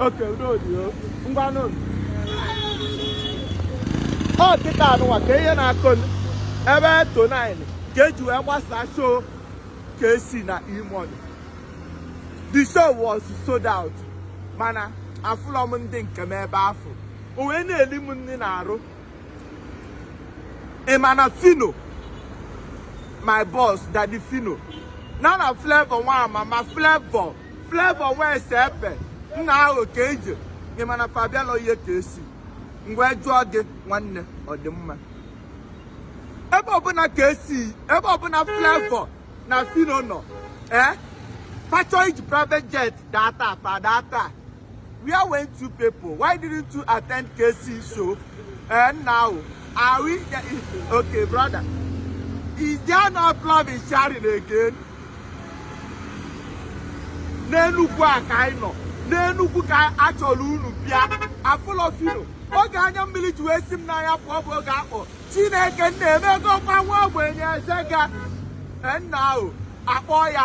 Okay, udo dị o. Ngwa nụ. Ọ kịta nụnwa ka ihe na-akụ n- ebe tonight ka eji wee gbasaa show Kcee na E-Money. The show was sold out mana afụlọ m ndị nke m ebe afụ. O wee na-eli m nri n'arụ. Ị ma na Phyno my boss daddy Phyno na na Flavour nwa mama Flavour Flavour wee se epe nna ahụ ka eje ị ma na fa abịalọ ihe Kcee ngwa jụọ gị nwanne ọ dị mma ebe ọbụla Kcee ebe ọbụla Flavour na Phyno nọ ee fa chọọ iji private jet data fa data Where went you people? Why didn't you attend Kcee show? And now, are we... Okay, brother. Is there not love in sharing again? n'Enugwu a ka anyị nọ n'Enugwu ka a chọrọ unu bịa afụlọ Phyno oge anya mmiri ji wee si m n'anya pụọ bụ oge a kpọ Chineke nna emegokwa nwa ogbenye eze ga nna ahụ akpọ ya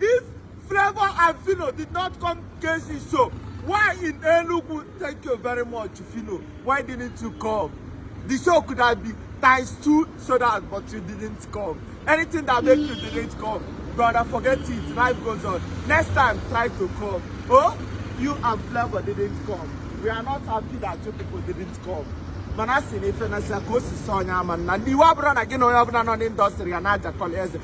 If Flavour and Phyno did not come Kcee show, why in Enugu? Thank you very much, Phyno. Why didn't you come? The show could have been times two sold out, but you didn't come. Anything that make you didn't come, brother, forget it. Life goes on. Next time, try to come. Oh, you and Flavour didn't come. We are not happy that you people didn't come. mana a sị na ife na si ka o si sọ onye ama na ndị iwe ọbụla na gị na onye ọbụla nọ n'industry a na-ajakọla eze